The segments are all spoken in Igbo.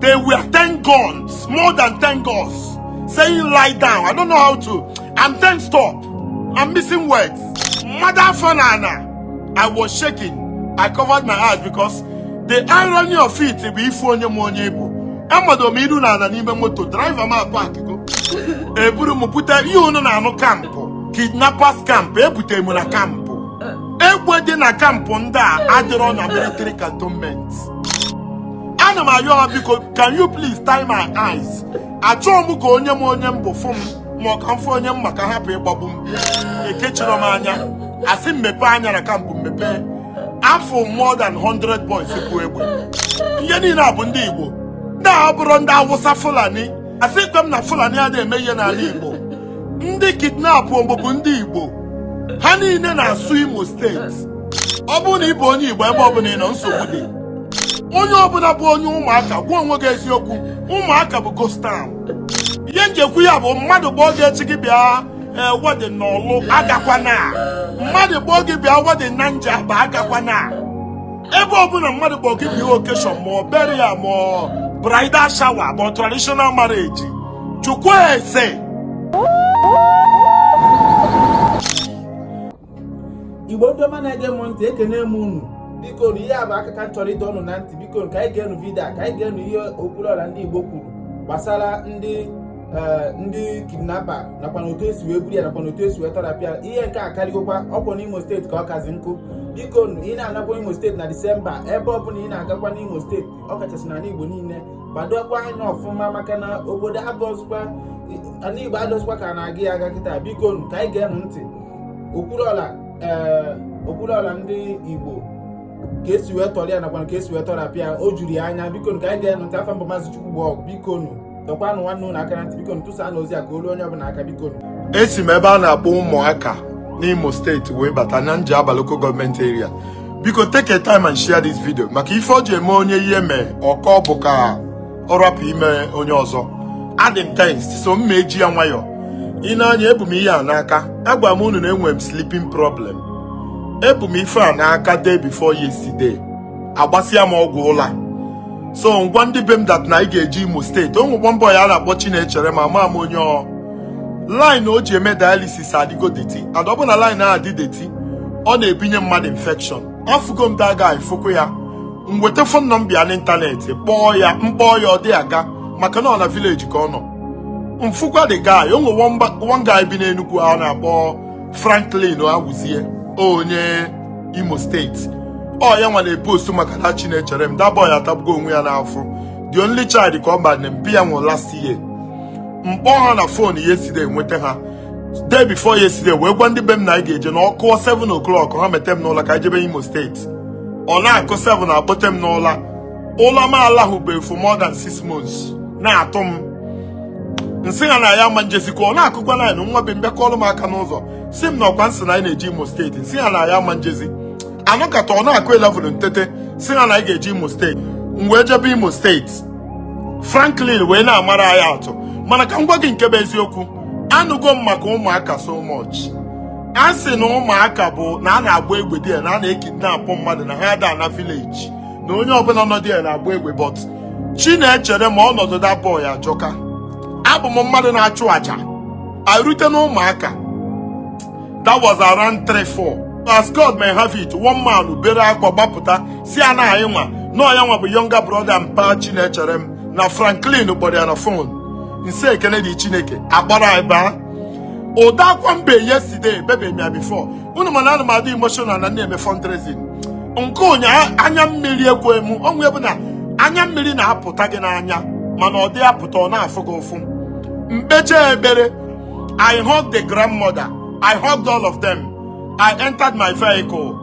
They were 10 guns, more than 10 guns, saying lie down. I don't know how to. I'm tensed up. I'm missing words. Mado afọ n'ana. I was shaking. I covered my eyes because the irony of it bụ ịfụ onye ma onye ị bụ amado m iru n'ala n'ime moto driver m aparkgo eburu m pụta ihe unu na-anụ kampụ kidnappers camp ebute m na kampụ egbe dị na kampụ ndị a adịrọ na military cantonment ana m ayọ ha biko can you please tie my eyes achọọ m ka onye ma onye m bụ fụ m ma ọ ka m fụ onye m ma ka hapụ ịgbagbu m ekechirọ m anya asị m mepee anya na kampụ m mepee afụ m more than 100 boys bu egbe ihe niile a bụ ndị Igbo ndị a abụrọ ndị Awụsa Fulani asịkwa m na Fulani adịghị eme ihe n'ala Igbo ndị kidnapụ m bụ ndị Igbo ha niile na-asụ Imo steeti ọ bụrụ na ị bụ onye Igbo ebe ọ bụla ị nọ nsogbu dị onye ọbụla bụ onye ụmụaka gwa onwe gị eziokwu ụmụaka bụ ghost town ihe m ji ekwu ya bụ mmadụ kpọọ gị echi gị bịa eh, wedin n'Ọlụ agakwana mmadụ kpọọ gị bịa wedin na Njaba agakwana ebe ọbụla mmadụ kpọọ gị bịa okeshọn ma ọ burial ma bridal shower ma traditional marriage jụkwa ese igbo ndị ọma na-ege m ntị ekene m unu biko na ihe a bụ aka ka a chọrọ ịdọ unu na ntị biko ka anyị geenụ vidio ka anyị geenụ ihe okwuluọra ndị igbo kwuru gbasara ndị eh, ndị kidnapa nakwa na otu esi wee buru ya nakwa na otu esi wee tọrapụ ya ihe nke a karịgokwa ọ kwa n'imo steeti ka ọ kazi njọ biko ị na-anakwa imo steeti na disemba ebe ọ bụla ị na-agakwa n'imo steeti ọ kachasị n'ala igbo niile gbadokwa anya ọfụma maka na obodo abụrọzịkwa ala igbo adịrọzịkwa ka a na-aga ya aga kịta biko ka anyị geenụ ntị Okwuluora ndị Igbo ka esi wee tọrọ ya nakwa ka esi wee tọrapụ ya o juru ya anya biko ka anyị geenụ ntị afa m bụ maazị Chukwugbo bikonụ dọkwanụ nwanne unu aka na ntị biko tụsanụ ozi a ka o lue onye ọbụla aka biko esi m ebe a na-akpọ ụmụaka n'Imo steeti wee bata na Njaba lokal gọọmenti eria biko take a time and share this video maka ife o ji eme onye ihe mee ọ kọọ bụ ka ọ rapụ ime onye ọzọ adị m tensed so m ma eji ya nwayọọ ị na-anụ ya ebu m ihe a n'aka agwa m unu na enwere m sleeping problem ebu m ife a n'aka day before yesterday agbasịa m ọgwụ ụla so m gwa ndị be m dat na anyị ga-eje imo steeti o nwe nwa boy a na-akpọ chinecherem ama m onye ọ line o ji eme dialysis adịgo deti and ọ bụ na line ahụ adị deti ọ na-ebunye mmadụ infection afụgo m that guy fụkwa ya m weta fon nọmba ya n'ịntanetị kpọọ ya m kpọọ ya ọ dị aga maka na ọ na vileji ka ọ nọ m fụkwa the guy o nwe one guy bi n'Enugu a na-akpọ Franklin Awuzie onye Imo steeti ọ ya nwa na-epostu maka na Chinecherem that boy atagbugo onwe ya n'afụfụ the only child ka ọ bụ na mpa ya nwụrụ last year m kpọọ ha na fon yesterday nweta ha day before yesterday wee gwa ndị be m na anyị ga-eje na ọ kụọ 7 o'clock ha mete m n'ụla ka anyị jebe imo steeti ọ na-akụ 7 a kpọtee m n'ụla ụla m alahụbeghị for more than 6 months na-atụ m nsị ha na a ma m ejezikwa ọ na-akụkwa 9 nwa be m bịa kụọlụ m aka n'ụzọ si m na ọkwa ị sị na anyị na-eje imo steeti nsị ha na a ma m ejezi a nọkata ọ na-akụ 11 ntete si ha na anyị ga-eje imo steeti m wee jebe imo steeti franklin wee na-amara anyị atụ mana ka m gwa gị nke bụ eziokwu anụgo m maka ụmụaka so much a sị na ụmụaka bụ na a na-agba egbe there na a na-ekidnapụ mmadụ na ha ada ana vileji na onye ọbụla nọ there na-agba egbe but Chinecherem ọnọdụ that boy ajọka abụ m mmadụ na-achụ aja e rute na ụmụaka that was around 3 4 as God may have it one man bere akwa gbapụta si anyị nwa na ọ ya nwa bụ younger brother mpa Chinecherem na Franklin kpọrọ ya na fon nsị ekele dị Chineke a kpọrọ anyị baa ụdị akwa m be yesterday ebebe m ya before unu ma na ana m adị emotional na na-eme fundraising nke ụnyaahụ anya mmiri ekwe m onwe bụ na anya mmiri na-apụta gị n'anya mana ọ dị apụta ọ na-afụ gị ụfụ m kpechaa ekpere I hugged the grandmother I hugged all of them I entered my vehicle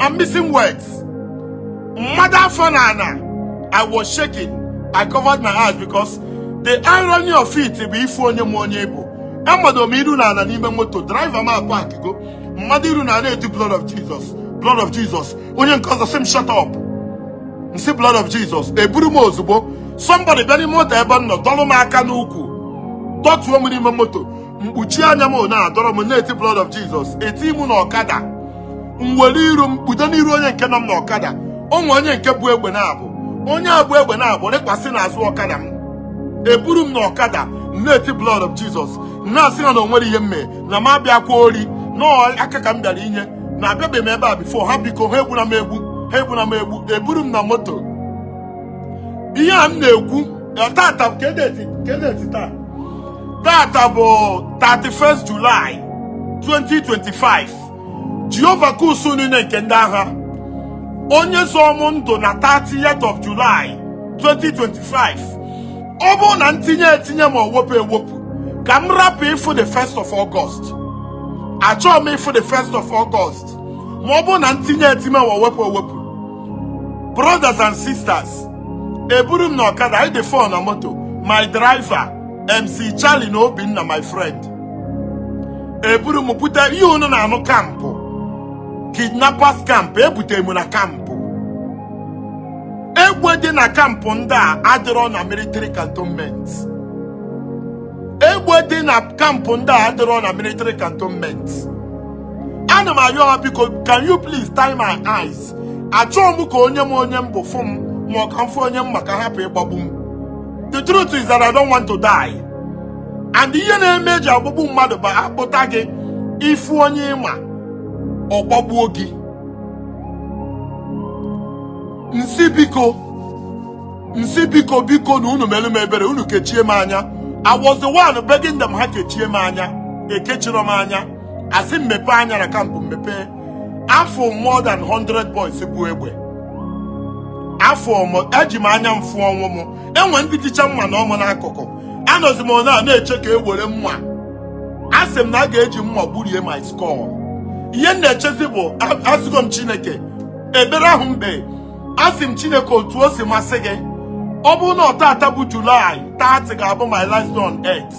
I'm missing words. Mmadụ afọ n'ana, I was shaking. I covered my eyes because the irony of it bụ ị fụ onye ma onye ị bụ. Amado m iru n'ana n'ime moto, driver m apakgo. M mado iru n'ana eti blood of Jesus, blood of Jesus. Onye nke ọzọ sị m shut up. M sị blood of Jesus. Eburu m ozugbo. Somebody bịa n'ime moto ebe m nọ, dọlụ m aka n'ụkwụ. Dọtuo m n'ime moto. mkpuchi anya m na-adọrọ m na-eti blood of Jesus e tii m na ọkada m were iru m kpudo n'iru onye nke nọ m na ọkada o nwe onye nke bu egbe naabọ onye a bu egbe naabọ rịkwasị n'azụ ọkada m eburu m na ọkada m na-eti blood of Jesus na-asị ha na o nwerọ ihe m mee na m abịakwa ori na ọ aka ka m bịara inye na abịabeghị m ebe a before ha biko ha egbuna m egbu ha egbuna m egbu eburu m na moto ihe a m na-ekwu tata kedeti taa tata bụ 31st July 2025 Jehova nke usuu niile nke ndị agha onye zọọ m ndụ na 30th of July 2025 ọ bụrụ na m tinye etinye ma ọ wepụ ewepụ ka m rapụ ịfụ the 1st of August achọọ m ịfụ the 1st of August ma ọ bụrụ na m tinye etinye ma ọ wepụ ewepụ brothers and sisters eburu m na ọkada anyị dị four na moto my driver mc charlie na obinna my friend eburu m bute ihe unu na-anụ kampụ kidnappers camp ebutere m na kampụ egbe dị na kampụ ndị a adịrọ na military cantonment egbe dị na kampụ ndị a adịrọ na military cantonment ana m ayọ ha biko can you please tie my eyes achọọ m ka onye ma onye m bụ fụ m ma ọ ka m fụ onye m ma ka a hapụ ịgbagbu m the truth is that I don't want to die and ihe na-eme eji agbagbu mmadụ bụ a kpụta gị ị fụ onye ị ma ọ gbagbuo gị m sị biko biko na unu meelu m ebere unu kechie m anya I was the one begging them ha kechie m anya ekechirọ m anya a sị m mepe anya na kampụ m mepe afụ m more than 100 boys bu egbe afụ m eji m anya m fụ ọnwụ m enwe ndị jicha mma nọ mụ n'akụkụ anọzi m na na-eche ka e were mma a sị m na a ga-eji mma gburie my skull ihe m na-echezi bụ asịgo m chineke ebere ahụ mbe asị m chineke otu o si masị gị ọ bụrụ na ọ tata bụ julaị 30 ga-abụ my last on earth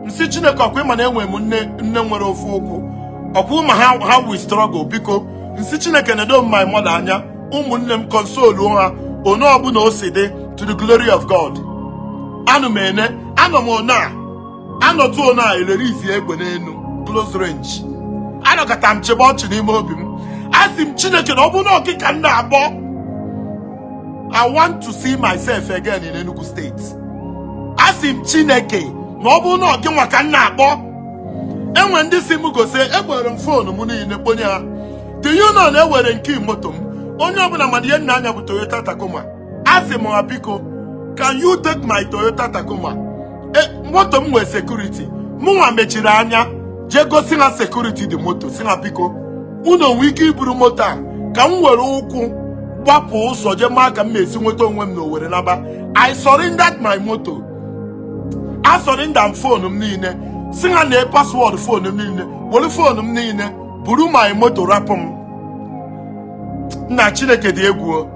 m sị chineke ọkwa ị ma na enwe m nne nwere ofu ụkwụ ọkwa ị ma how we struggle biko m sị chineke nedo m my mother anya ụmụnne m consoluo ha ono ọbụna o si dị to the glory of god anọ m ene anọ m ono a anọtụ ono a elerizi egbe n'enu close range anọkata m chịbe ọchị n'ime obi m a sị m chineke na ọ bụrụ na ọ gị ka m na-akpọ I want to see myself again in Enugu State. Asị m Chineke na ọ bụrụ na ọ gị nwa ka m na-akpọ enwe ndị sị m gosi ekporo m foonu m niile kponye ha do you know na ewere m key moto m onye ọbụla ma na ihe m na-anya bụ Toyota Tacoma asị m ha biko can you take my Toyota Tacoma e, moto m nwe security mụnwa mechiri anya jee gosi ha security dị moto sị ha biko unu nwe ike iburu moto a ka m were ụkwụ gbapụ ụzọ jee maa ka m na-esi nweta onwe m na owere naba I surrendered my moto I surrendered fonu m niile sị ha nee password fonu m niile were fonu m niile buru my moto rapụ m nna chineke dị egwu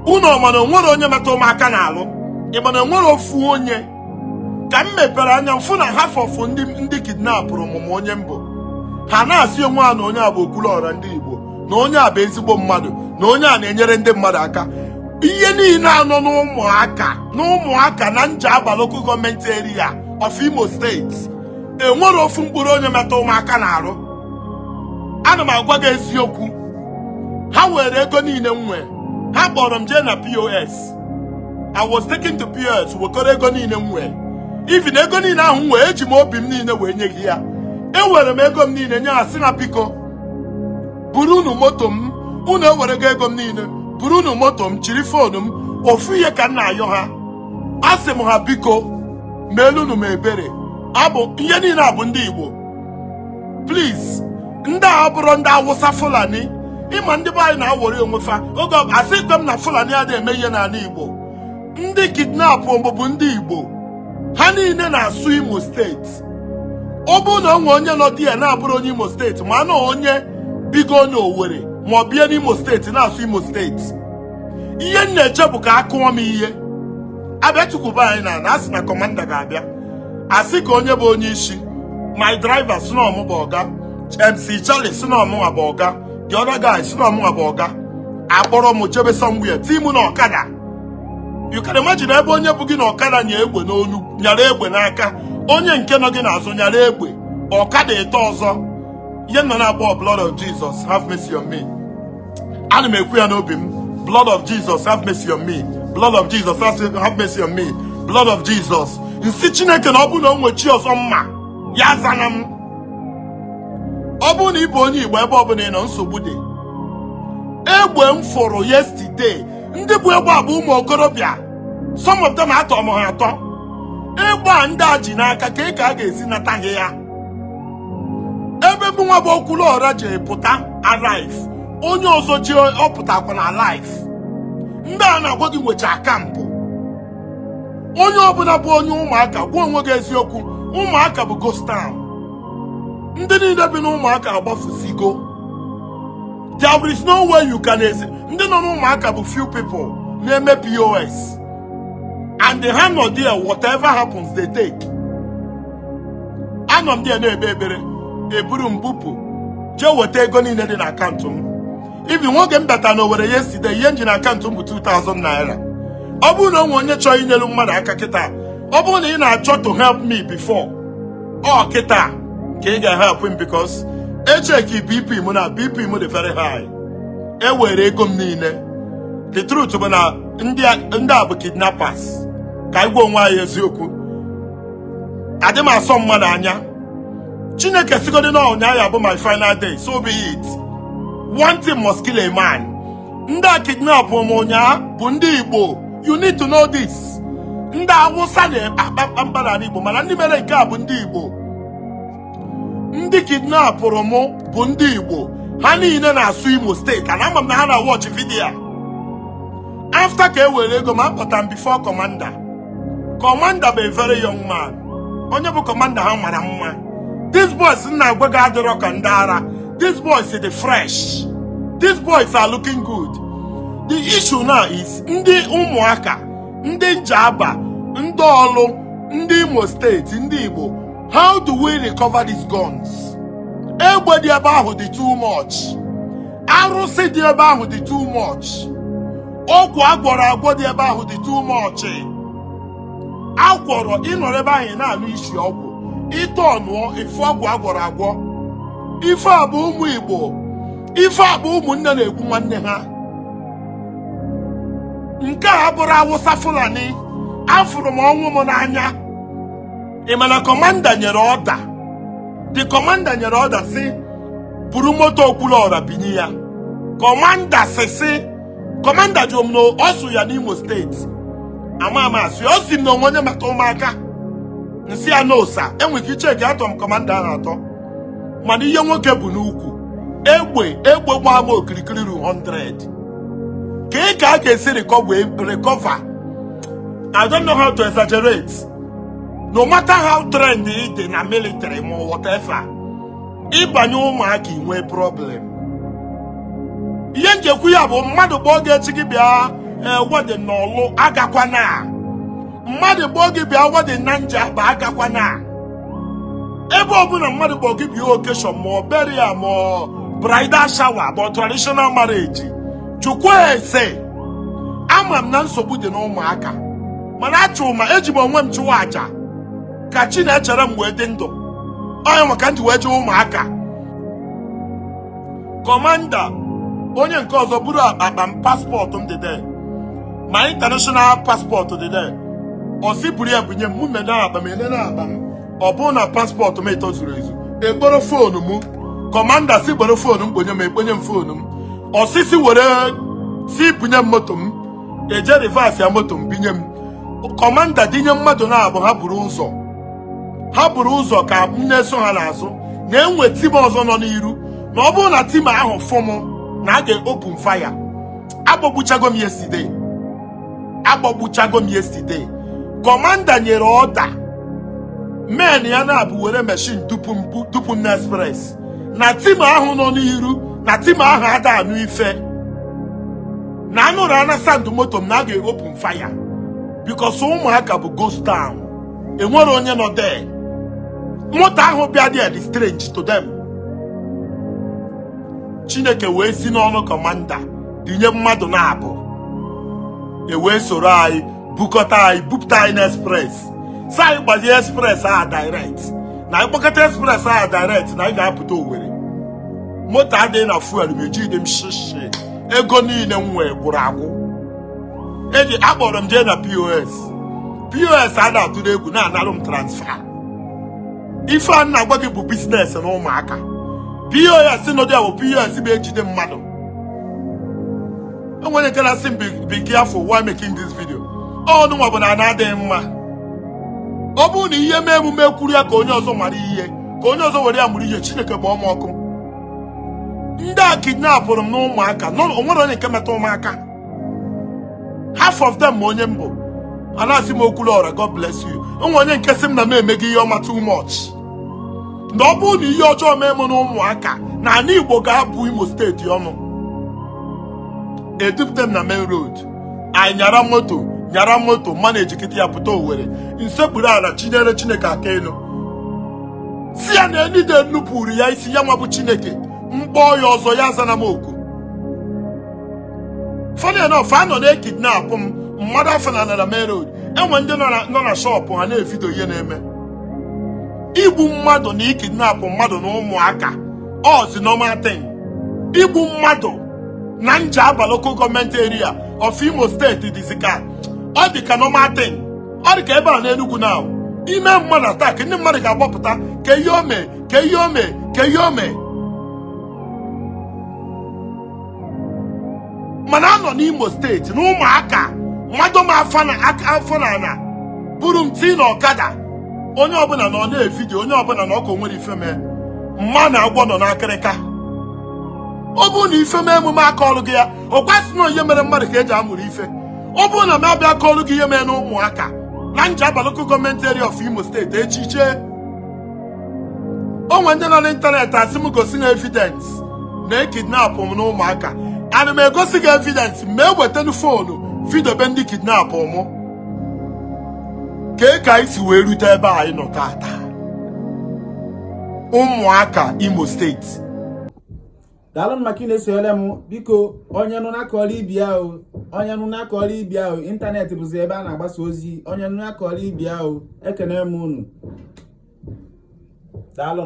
unu ọma na onwere onye metụ mụ aka n'arụ ịma na enwere ofu onye ka m mepere anya m fụ na half of ndị ndị kidnapụrụ mụ ma onye m bụ ha na-asị onwe ha na onye a bụ okwuluọra ndị Igbo na onye a bụ ezigbo mmadụ na onye a na-enyere ndị mmadụ aka ihe niile anọ n'ụmụaka n'ụmụaka na Njaba local government area of Imo steeti enwere ofu mkpụrụ onye metụ mụ aka n'arụ ana m agwa gị eziokwu ha were ego niile m nwee ha kpọrọ m jee na pos i was taken to pos wekọrọ ego niile m nwee even ego niile ahụ m wee eji m obi m niile wee nye gị ya ewere m ego m niile nye ha sị na biko buru unu moto m unu ewerego ego m niile buru unu moto m chiri foonu m ofu ihe ka m na-ayọ ha asị m ha biko meelunu m ebere abụ ihe niile a bụ ndị igbo please ndị a abụrọ ndị awụsa fulani ịma ndị be anyị na-awọrị onwe fa oge ọ- asị ikpe m na fulani adị eme ihe n'ala igbo ndị kidnap mụ bụ ndị igbo ha niile na-asụ imo steeti ọ bụrụ na o nwe onye nọ there na-abụrọ onye imo steeti ma na onye bigo onye owere ma ọ bie n'imo steeti na-asụ imo steeti ihe m na-eche bụ ka a kụọ m ihe abịa tukwuba anyị na na asị na kọmanda ga-abịa asị ka onye bụ onye isi my driver sị na ọ mụ bụ ọga MC Charlie sị na ọ mụnwa bụ ọga the other guy sị na ọ mụnwa bụ ọga akpọrọ m jebe somewhere tii m na ọkada you can imagine ebe onye bu gị na ọkada nya egbe n'olu nyara egbe n'aka onye nke nọ gị n'azụ nyara egbe ọkada ịtọ ọzọ ihe m nọ na-akpọ blood of Jesus have mercy on me ana m ekwu ya n'obi m blood of Jesus have mercy on me blood of Jesus have mercy on me blood of Jesus m sị chineke na ọ bụrụ na o nwe chi ọzọ m ma ya azana m ọ bụrụ na ị bụ onye igbo ebe ọbụla ị nọ nsogbu dị egbe m fụrụ yesterday ndị bu egbe a bụ ụmụ okorobịa some of them atọ m ha atọ egbe a ndị a ji n'aka kee ka a ga-esi nata gị ya ebe mụnwa bụ okwuluọra je pụta alive onye ọzọ jee ọ pụtakwa na alive ndị a na-agwa gị nwecha camp onye ọbụla bụ onye ụmụaka gwa onwe gị eziokwu ụmụaka bụ ghost town ndị niile bi n'ụmụaka agbafusigo there is no way you can ezi ndị nọ n'ụmụaka bụ few people na-eme pos and ha nọ there whatever happens they take anọ m dị ya na-ekpe ekpere eburu m bupụ jee weta ego niile dị na akaụntụ m even oge m bata na owere yesterday ihe m ji na akaụntụ m bụ 2000 naira ọ bụrụ na o nwee onye chọọ inyelu mmadụ aka kịta ọ bụrụ na ị na-achọ to help me before ọ kịta ka ị ga-help m because echeki bp m na bp m dị very high e were ego m niile the truth bụ na ndị a bụ kidnappers ka anyị gwa onwe anyị eziokwu adị m asọ mmadụ anya chineke sịgodi na ụnyaahụ bụ my final day so be it one thing must kill a man ndị a kidnapụrụ m ụnyaahụ bụ ndị igbo you need to know this ndị awụsa na-akpa mkpamkpa n'ala igbo mana ndị mere nke a bụ ndị igbo ndị kidnapụrụ m bụ ndị igbo ha niile na-asụ imo steeti and ama m na ha na-watch video after ka e were ego m akpọta m before kọmanda kọmanda bụ a very young man onye bụ kọmanda ha mara mma these boys m na-agwa gị adịrọ ka ndị ara these boys dị fresh these boys are looking good the issue now is ndị ụmụaka ndị njaba ndị ọlụ ndị imo steeti ndị igbo how do we recover these guns egbe dị ebe ahụ dị too much arụsị dị ebe ahụ dị too much ọgwụ agwọrọ agwọ dị ebe ahụ dị too much agwọrọ ị nọrọ ebe ahụ ị na-anụ isi ọgwụ ị turnụọ ị fụ ọgwụ agwọrọ agwọ ife a bụ ụmụ igbo ife a bụ ụmụnne na-egbu nwanne ha nke a abụrọ awụsa fulani afụrụ m ọnwụ m n'anya ị ma na kọmanda nyere ọda the kọmanda nyere ọda sị buru moto okwuluọra bunye ya kọmanda sị sị kọmanda jụrụ m na ọ sụ ya n'imo steeti ama ama asị ọ sị m na o nwe onye maka ụmụaka m sị ya no sir enwere ike icheki atọ m kọmanda ahụ atọ mana ihe nwoke bu n'ukwu egbe egbe gbaa m okirikiri ru 100 ka ị ka a ga-esi recover I don't know how to exaggerate no matter how trained ị dị na military ma whatever ị banye ụmụaka i nwee problem ihe m ji ekwu ya bụ mmadụ kpọọ gị echi gị bịa wedding n'ọlụ agakwana mmadụ kpọọ gị bịa wedding na njaba agakwana ebe ọbụla mmadụ kpọọ gị bịa occasion ma ọ burial ma ọ bridal shower ma ọ traditional marriage chukwu ese ama m na nsogbu dị n'ụmụaka mana achụ ma eji m onwe m chụwa aja ka chi na-echere m wee dị ndụ ọ nya nwa ka m ji wee jee ụmụaka kọmanda onye nke ọzọ buru akpa m paspọtụ m dị there my international paspọtụ dị there ọ sị buru ya bunye m mụ nene akpa m enene akpa m ọ bụrụ na paspọtụ m ịtọ zuru ezu ekporo foonu m kọmanda sị kporo foonu m kponye m ekponye m foonu m ọ sị sị were sị bunye m moto m eje rivasịa moto m bunye m kọmanda dunye mmadụ naabọ ha buru ụzọ ha buru ụzọ ka m na-eso ha n'azụ na enwe tim ọzọ nọ n'iru na ọ bụrụ na tim ahụ fụ m na a ga-open fire agbagbuchago m yesterday kọmanda nyere ọda men ya naabọ were meshin dupu m na express na tim ahụ nọ n'iru na tim ahụ ada anụ ife na anụrụ ana sound moto m na a ga-open fire because ụmụaka bụ ghost town enwero onye nọ there moto ahụ bịa dị dị strange to them chineke wee si n'ọnụ kọmanda dunye mmadụ naabọ ewee soro anyị bukọta anyị bupụta anyị na express sị anyị gbazie express a direct na anyị gbakata express a direct na anyị ga-apụta Owerri moto adịghị na fuel ma ejiro m shishi ego niile m nwee gwụrụ agwụ eji akpọrọ m jee na pos pos a na-atụrụ egwu na-analụ m transfa ife a m na-agwa gị bụ biznes na ụmụaka pos nọ there bụ pos bụ ejide mmadụ onwe onye nke na-asị m be careful while making this video ọnụ nwa bụ na ana adịghị mma ọ bụrụ na ihe mee mụ mụ ekwuru ya ka onye ọzọ mara ihe ka onye ọzọ were ya mụrụ ihe chineke bụ ọma ọkụ ndị a kidnapụrụ m n'ụmụaka onwero onye nke metụ m aka half of them ma onye m bụ a na-asị m Okwuluọra God bless you onwe onye nke sị m na m emego ihe ọma too much na ọ bụrụ na ihe ọjọọ mee m na ụmụaka na ala Igbo ga-abụ Imo steeti ọnụ edupụta m na main road anyị nyara moto nyara moto managekata ya pụta Owerri m sekpuru ala chinyere Chineke aka elu sị ya na any day m nupụrụ ya isi ya nwa bụ Chineke m kpọọ ya ọzọ ya azana m oku funny enough a nọ na-ekidnapụ m mmadụ afọ na anara main road enwe ndị nọ na shọpụ ha na-evidio ihe na-eme igbu mmadụ na ikidnapụ mmadụ na ụmụaka ọzi normal thing igbu mmadụ na njaba local government area of imo steeti dịzi ka ọ dị ka normal thing ọ dị ka ebe a n'enugwu na ime mmadụ attack ndị mmadụ ga-agbapụta kee ihe o me kee ihe o me kee ihe o me mana a nọ n'Imo steeti n'Ụmụaka mmadụ ma afọ na aka afọ na ana buru m tii na ọkada onye ọbụla nọ ọ na-evidio onye ọbụla nọ ọ kọ o nwere ife mee mana agwọ nọ n'akịrịka ọ bụrụ na ife mee mụ m akọrọ gị ya ọ kwa sị na ọ ihe mere mmadụ ka e ji amụrụ ife ọ bụrụ na m abịa akọrọ gị ihe mee n'Ụmụaka na Njaba local gọọmenti area of Imo steeti echiche o nwere ndị nọ n'ịntanetị asị m gosi ha evidence na e kidnapụ m n'Ụmụaka ana m egosi gị evidence ma e wetanu foonu vidiobe ndị kidnapụ mụ kee ka anyị si wee rute ebe anyị nọ tata Ụmụaka Imo steeti daalụ maka ị na-esonyere m biko onye nụ na-akọrọ ibe ya o onye nụ na-akọrọ ibe ya o ịntanetị bụzi ebe a na-agbasa ozi onye nụ na-akọrọ ibe ya o ekene m unu daalụ